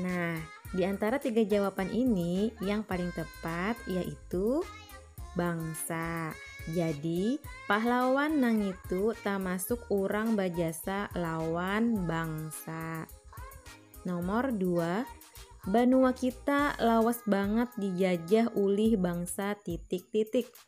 Nah, di antara tiga jawaban ini yang paling tepat yaitu bangsa. Jadi, pahlawan nang itu termasuk orang bajasa lawan bangsa. Nomor dua, Banua kita lawas banget dijajah ulih bangsa titik-titik.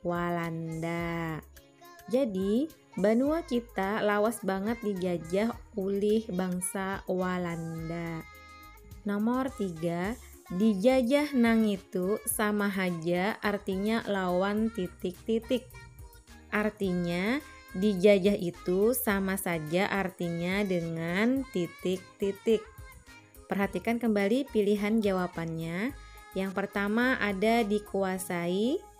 Walanda. Jadi, banua kita lawas banget dijajah ulih bangsa Walanda. Nomor tiga, dijajah nang itu sama haja artinya lawan titik-titik. Artinya, dijajah itu sama saja artinya dengan titik-titik. Perhatikan kembali pilihan jawabannya. Yang pertama ada dikuasai,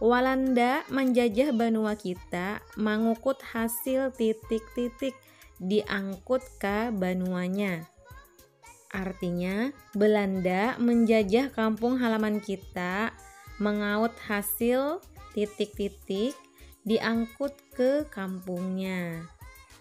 Walanda manjajah banua kita, mangukut hasil titik-titik diangkut ka banuanya. Artinya, Belanda menjajah kampung halaman kita, mengaut hasil titik-titik diangkut ke kampungnya.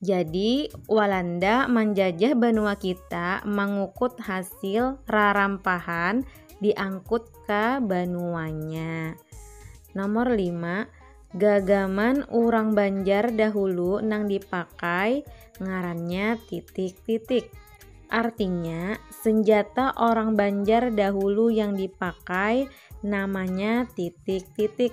Jadi, Walanda manjajah banua kita mangukut hasil rarampahan diangkut ka banuanya. Nomor lima, gagaman urang Banjar dahulu nang dipakai ngarannya titik-titik. Artinya, senjata orang Banjar dahulu yang dipakai namanya titik-titik.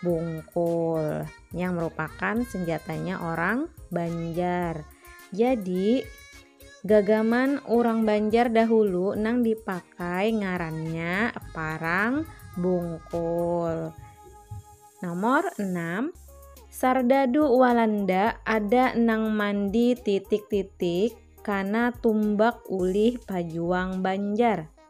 bungkul yang merupakan senjatanya orang Banjar. Jadi gagaman orang Banjar dahulu nang dipakai ngarannya parang bungkul. Nomor 6 Sardadu Walanda ada nang mandi titik-titik kana tumbak ulih pajuang Banjar.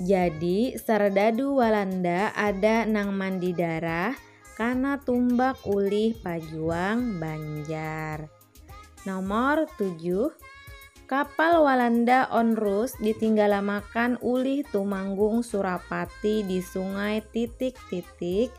Jadi, sardadu Walanda ada nang mandidarah kana tumbak ulih pajuang Banjar. Nomor tujuh, kapal Walanda Onrus ditinggalamakan ulih Tumanggung Surapati di Sungai Titik-titik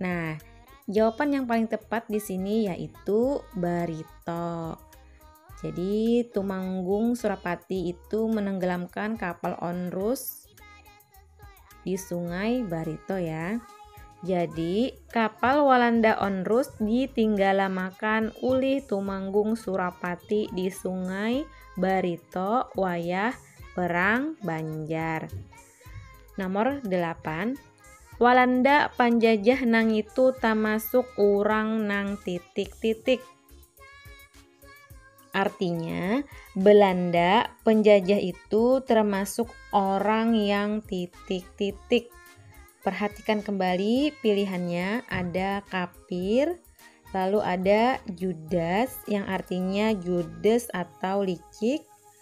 Nah, jawaban yang paling tepat di sini yaitu Barito. Jadi, Tumanggung Surapati itu menenggelamkan kapal Onrus di Sungai Barito ya. Jadi, kapal Walanda Onrus ditinggalamakan ulih Tumanggung Surapati di Sungai Barito wayah Perang Banjar. Nomor 8. Walanda panjajah nangitu tamasuk urang nang titik-titik. Artinya, Belanda penjajah itu termasuk orang yang titik-titik. Perhatikan kembali pilihannya ada kapir, lalu ada Judas yang artinya judes atau licik,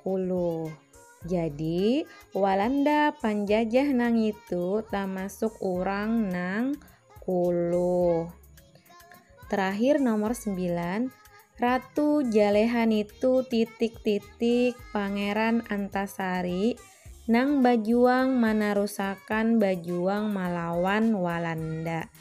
Kuluh. Jadi, Walanda panjajah nangitu tamasuk urang nang kuluh. Terakhir nomor 9, Ratu Jaleha nitu titik-titik Pangeran Antasari nang bajuang manarusakan bajuang malawan Walanda.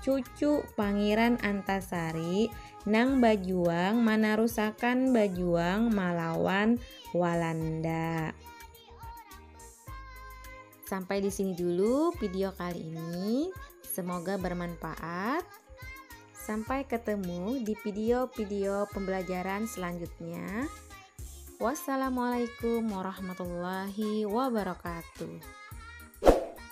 cucu Pangiran Antasari nang bajuang manarusakan bajuang malawan Walanda. Sampai di sini dulu video kali ini. Semoga bermanfaat. Sampai ketemu di video-video pembelajaran selanjutnya. Wassalamualaikum warahmatullahi wabarakatuh.